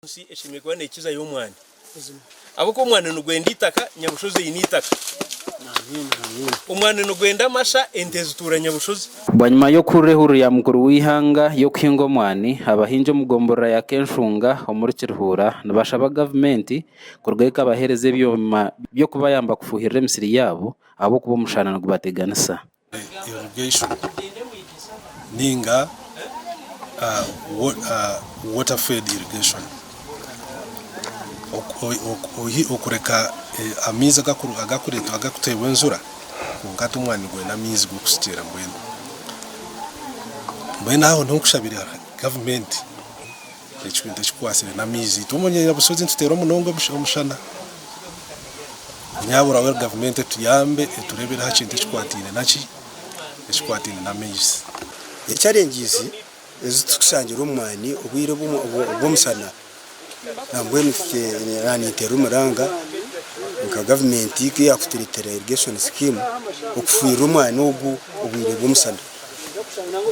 Ensi eshemereire kuba neekizayo omwani ahabw'okuba omwani nigwenda eitaka, Nyabushozi eine eitaka. Omwani nigwenda amasha, ente zituura Nyabushozi. Bwanyima y'okuhurira ehururu ya mukuru w'eihanga y'okuhinga omwani, abahingi omu gomborora ya Kenshunga omuri Kirihuura nibashaba gavumenti kurugayo ekabahereza ebyoma by'okubayamba kufuhirira emisiri yaabo ahabw'okuba omushana nigubateganisa. irrigation ninga water fed irrigation okureka amaizi agakuteebwa enjura kwonka hati omwani gwine amaizi g'okushukyeera mbwenu aho niho nkushabire gavumenti. Ekikwita ekikwatsire n'amaizi itwe omu Nyabushozi nituteera munonga omushana nyaaburaho gavumenti etuyambe etureebereho aha kintu ekikwataine naki ekikwataine n'amaizi. Challenges ezi turikushangira omu mwani obwire bw'omushana nambwenu ninteera omuranga nka gavumenti ku yaakutureetera irrigation scheme okufuhirira omwani ogu obwire bw'omushana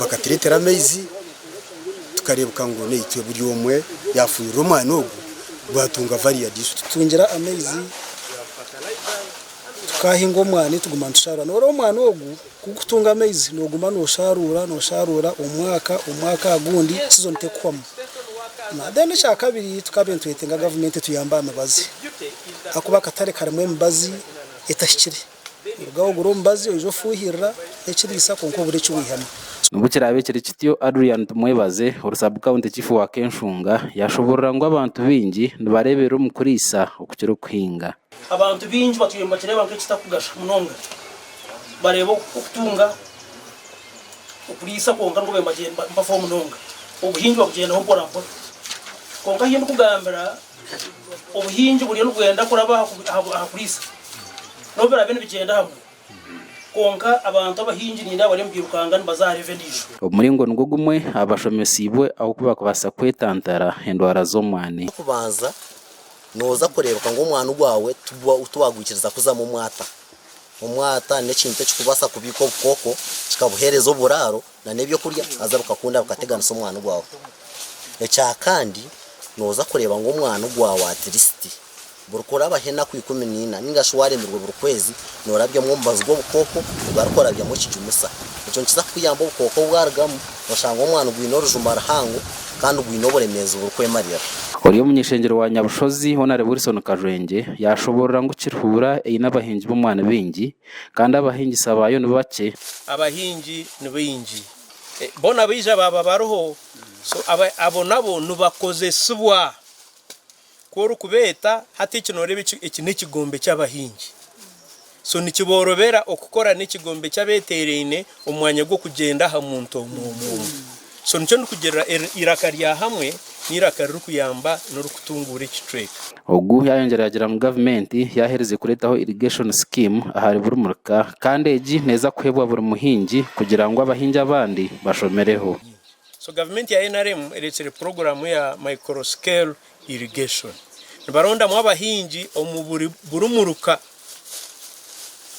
bakatureetera amaizi. tukareebeka ngu naitwe buri omwe yaafuhirira omwani ogu gwatunga variadi. Tutungira amaizi tukaahinga omwani tuguma nitusharuura. Noreeba omwani ogu kugutunga amaizi noguma nosharuura nosharuura omwaka omwaka aha gundi sizoni tekuhwamu. Then ekyakabiri tukabaire nitwetenga gavumenti etuyambe aha mibazi ahakuba akatare karimu emibazi etahikire. Orugaho ogure omubazi oije ofuuhirira ekiriisa kwonka obure eki waihamu. Nubwo kiraabe kiri kityo, Adrian Tumwebaze, ori Sub County Chief wa Kenshunga, yaashoboorora ngu abantu baingi nibareeberera omu kuriisa okukira okuhinga. Abantu baingi batwire nibakireeba nk'ekitakugasha munonga. Bareeba okutunga okuriisa kwonka nikwo beemba bagyenda mpafo munonga. Obuhingi babugyendaho mporampora. Kwonka ahi ndikugambira Obuhingi buriyo nibwenda kuraba aha kuriisa n'obu biraabe nibigyenda hamwe, kwonka abantu abahingi nindeeba bariyo nibairukanga nibaza aha reevu endiijo. Ogu muringo nigwo gumwe abashomeseibwe ahu barikubaasa kwetantara endwara z'omwaani. Eky'okubanza, nooza kureebeka ngu omwaani gwaawe tiwagwikiriza kuzamu omwaata. Omwaata n'ekintu ekirikubaasa kubiika obukooko kikabuheereza oburaaro na n'eby'okurya haza bikakunda bikateganisa omwana ogwawe. Ekya kandi noza kureba ngu omwana ogwawe at least buri kurabaho enaku ikumi na ina ninga shi waremirwe buri kwezi norabyamu omubazi gw'obukooko ogu ari kurabyamu ekijumisa. Ekyo nikiza kukuyamba obukooko bwarugamu oshange omwana ogwine orujuma ruhango kandi gwine oburemeezi buri kwemarira. Ori omunyeshengyero wa Nyabushozi Honarebo Wilson Kajwengye yashoborora ngu Kiruhura eine abahingi b'omwani baingi kandi abahingisa baayo ni bakye. Abahingi ni baingi, boona baija baaba bariho, so abo nabo nibakozesibwa. Ku orikubeeta, hati eki nooreeba eki, eki n'ekigombe ky'abahingi. So nikiboorobera okukora n'ekigombe ky'abeeteeraine, omu mwanya gw'okugyenda aha muntu omwe omwe omwe. So nikyo ndikugira eiraka rya hamwe n'eiraka ririkuyamba n'orikutunguura ekicweka. Ogu yayongyera yagira ngu gavumenti yaherize kureetaho irrigation scheme ahari buri murika kandi egi neeza kuheebwa buri muhingi kugira ngu abahingi abandi bashomereho. So gavumenti ya nrm ereetsire puroguraamu ya micro scale irrigation nibarondamu abahingi omu buri buri muruka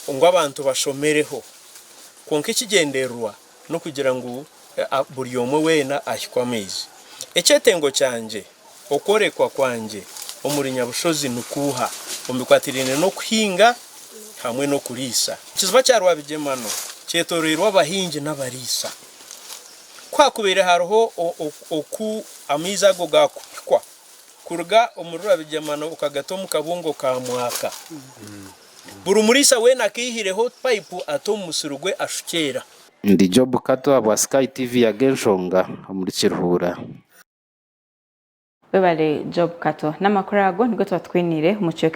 ngu abantu bashomereho kwonka ekigyendererwa n'okugira ngu buri omwe weena ahikwe amaizi. Ekyetengo kyangye, okworekwa kwangye omuri nyabushozi ni kuuha omu bikwatiraine n'okuhinga hamwe n'okuriisa? Ekiziba kya Rwabigyemano kyetoreirwe abahingi n'abariisa. Ku haakubaire hariho oku amaizi ago gaakuhikwa kuruga omuri Rwabigyemano okagata omu kabungo ka Mwaka, Buri muriisa weena akaihireho payipu ate omu musiri gwe ashukyeera. Ndi Job Kato ahabwa Sky TV yaga enshonga omuri Kiruhuura. Webale Job Kato. Namakuru ago nigo tuba tukwiniire omu kicweka ekisingire.